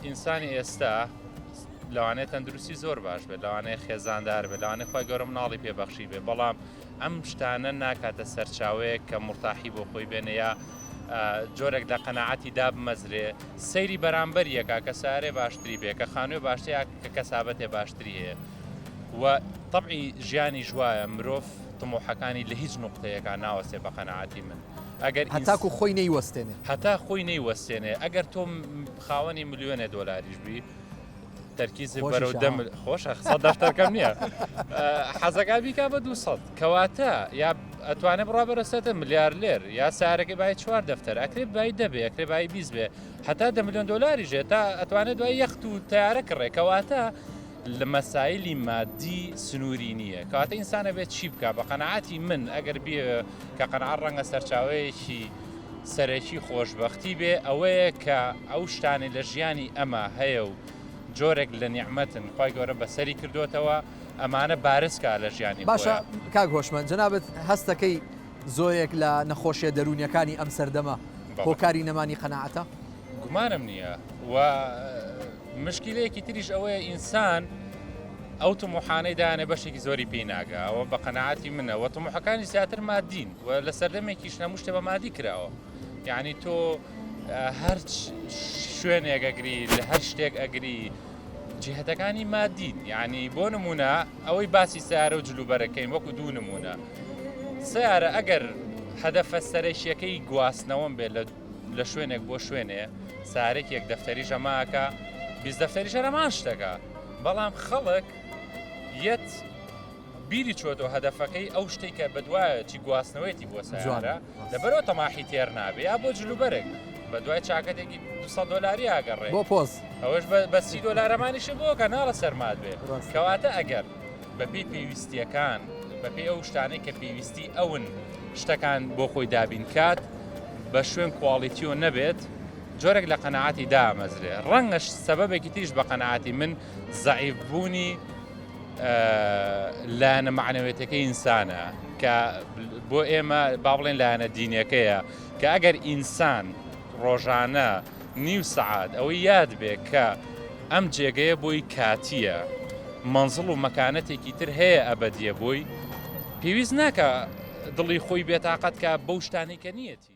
ئینسانی ئێستا لەوانەیە تەندروستی زۆر باش بێت لەوانەیە خێزاندار بێت لەوانێ خی گەۆرە مناڵی پێبەخشی بێ بەڵام ئەم شتانە ناکاتە سەرچاوەیە کە مرتاحی بۆ خۆی بێنە یا جۆرێک لە قەنەعاتی دابمەزرێ سەیری بەرامبەر یەکە کە سارێ باشتری بێ کە خانوێ باشتری کە کەسابەتێ باشتری هەیە و طبعی ژیانی ژواە مرۆڤ تمۆحەکانی لە هیچ نقطەیەەکە ناوەسێ بە قەنەعاتی من. هەتاکو خۆی نەیوەستێنێ. هەتا خۆی نەیوەستێنێ ئەگەر تۆ خاوەنی ملیۆنێ دۆلاریش بی تەرکیزی بەرەو دەم خۆشە قسە دەفتەرکەم نییە حەزەکە بیکا بە دو سەد کەواتە یا ئەتوانێت بڕا بەرەسێتە ملیار لێر یا سارەکە بای چوار دەفتەر ئەکرێت بای دەبێ ئەکرێ بای بیست بێ هەتا دە ملیۆن دۆلاری ژێ تا ئەتوانێت دوای یەخت و تارە کڕێکەواتە لە مەسایلی مادی سنووری نییە کەواتە ئینسان ئەبێت چی بکە بە قەنەعاتی من ئەگەر بێ کە قەنەعات ڕەنگە سەرچاوەیەکی سەرەکی خۆشببختی بێ ئەوەیە کە ئەو شتانی لە ژیانی ئەمە هەیە و جۆرێک لە نیعممەتن خی گەورە بەسەری کردوتەوە ئەمانە بارزکە لە ژیانی باشە کاک هۆشمەند جەنابەت هەستەکەی زۆیەک لە نەخۆشیە دەرونیەکانی ئەم سەردەمە هۆکاری نەمانی قەنەعاتە گومانم نییە و مشکیلەیەکی تریش ئەوەیە ئینسان ئەو تموحانەی دایانە بەشێکی زۆری پێی ناگا ئەوە بە قەنەعاتی منە وە تموحەکانی زیاتر مادین و لە سەردەمێکیش هەموو شتێ بە مادی کراوە یعنی تۆ هەر شوێنێک ئەگری لە هەر شتێک ئەگری جهتەکانی مادین یعنی بۆ نمونە ئەوەی باسی سارە و جلوبەرەکەین وەکو دوو نمونە سیارە ئەگەر هەدەفە سەرەکیەکەی گواستنەوەم بێت لە لە شوێنێک بۆ شوێنێ سارێکێک دەفتەری ژەماکە بیست دەفتەری ژەرەمان شتەکە بەڵام خەڵک یەت بیری چۆتۆ هەدەفەکەی ئەو شتێک کە بەدوایە چی گواستنەوەیەتی بۆ سەجوانە لەبەرەوە تەماحی تێر نابێ یا بۆ جلوبەرێک بە دوای چاکەتێکی 200 دلاری ئاگەڕێ بۆ پۆز ئەوەش بە سی دلارەمانیشی بۆ کەناڵە سەرمات بێ کەواتە ئەگەر بەپێی پێویستیەکان بەپێی ئەو شتانەی کە پێویستی ئەون شتەکان بۆ خۆی دابین کات بە شوێن کواڵیتیۆ نەبێت جۆرێک لە قەنەعاتی دامەزرێ ڕەنگەش سەبەبێکی تریش بە قەنەعاتی من زعیف بوونی لایەنە معنەوێتەکە ئینسانە کە بۆ ئێمە با بڵێن لایەنە دینەکەیە کە ئەگەر ئینسان ڕۆژانە نیو سەعات ئەوەی یاد بێ کە ئەم جێگەیە بۆی کاتییە، مەنزڵ و مەکانەتێکی تر هەیە ئەبەدییە بۆی، پێویست ناکا دڵی خۆی بێتاقەت کا بەو شتانەی کە نییەتی.